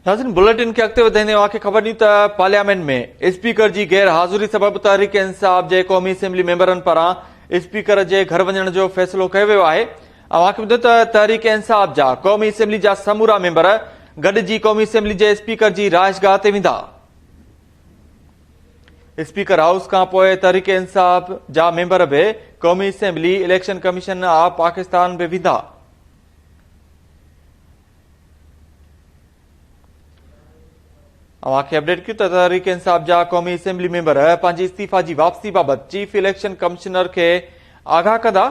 ناظرين بليٽن کي اڳتي وڌائيندي اوهان کي خبر ڏيون ته پارليامينٽ ۾ اسپيڪر جي غير حاضري سبب تحريڪ انصاف جي قومي اسيمبلي ميمبرن پاران اسپيڪر جي گهر وڃڻ جو فيصلو ڪيو ويو آهي اوهان کي ٻڌو ته تحريڪ انصاف جا قومي اسيمبلي جا سمورا ميمبر گڏجي قومي اسيمبلي جي اسپيڪر جي رهائشگاهه تي ويندا اسپيڪر هائوس کان پوء تحريڪ انصاف جا ميمبر به قومي assembly election commission of Pakistan به ويندا اوهان کي اپڊيٽ ڪيون ته تحريڪ انصاف جا قومي اسيمبلي ميمبر پنهنجي استعيفا جي واپسي بابت چيف اليڪشن ڪمشنر کي آگاهه ڪندا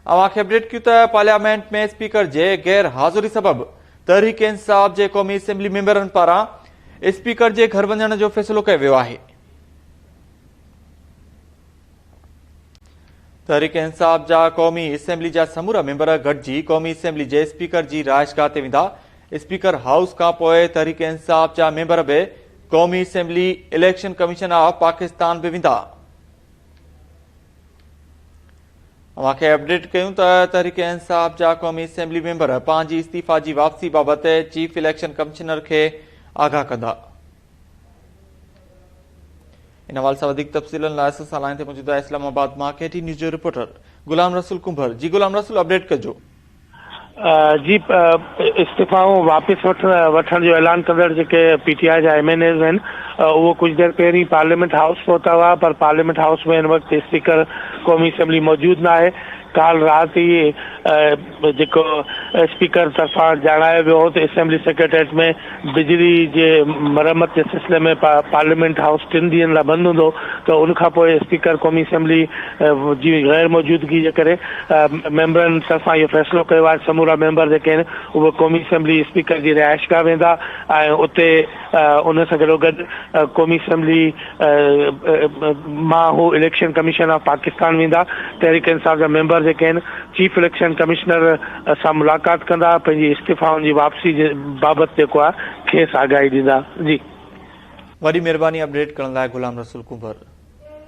اوهان کي اپڊيٽ ڪيون ته پارليامينٽ ۾ اسپيڪر جي غير حاضري سبب تحريڪ انصاف جي قومي اسيمبلي ميمبرن پاران اسپيڪر جي گهر وڃڻ جو فيصلو ڪيو ويو آهي تحريڪ انصاف جا قومي اسيمبلي جا سمورا ميمبر گڏجي قومي اسيمبلي جي اسپيڪر جي رهائش گاهه تي ويندا، اسپيڪر هائوس کانپوء تحريڪ انصاف جا ميمبر به قومي assembly, election commission of Pakistan به ويندا. اوهان کي اپڊيٽ ڪيون ته تحريڪ انصاف جا قومي اسيمبلي ميمبر پنهنجي استعيفا جي واپسي بابت چيف اليڪشن ڪمشنر کي آگاهه ڪندا. ان حوالي سان وڌيڪ تفصيلن لاء اسان سان لائين تي موجود آهي اسلام آباد مان ڪي ٽي نيوز جو رپورٽر غلام رسول ڪنڀر جي غلام رسول اپڊيٽ ڪجو جي استعفائون واپس وٺڻ جو اعلان ڪندڙ جيڪي پي ٽي آء جا ايم اين ايز آهن اهو ڪجهه دير پهرين پارليامينٽ هائوس پهتا هئا پر پارليامينٽ هائوس ۾ هن وقت اسپيڪر قومي اسيمبلي موجود ناهي ڪالهه رات ئي جيڪو اسپيڪر طرفان ڄاڻايو ويو هو ته اسيمبلي سيڪريٽريٽ ۾ بجلي جي مرمت جي سلسلي ۾ پارليامينٽ هائوس ٽن ڏينهن لاء بند هوندو ته ان کان پوء اسپيڪر قومي اسيمبلي جي غير موجودگي جي ڪري ميمبرن طرفان اهو فيصلو ڪيو آهي سمورا ميمبر جيڪي آهن اهي قومي اسيمبلي اسپيڪر جي رهائشگاهه ويندا ۽ اتي ان سان گڏوگڏ قومي اسيمبلي مان هو اليڪشن ڪميشن آف پاڪستان ويندا، تحريڪ انصاف جا ميمبر جيڪي آهن چيف اليڪشن ڪمشنر سان ملاقات ڪندا، پنهنجي استعفائن جي واپسي جي بابت جيڪو آهي کيس آگاهي ڏيندا. جي. وڏي مھرباني اپڊيٽ ڪرڻ لاء غلام رسول ڪنڀر.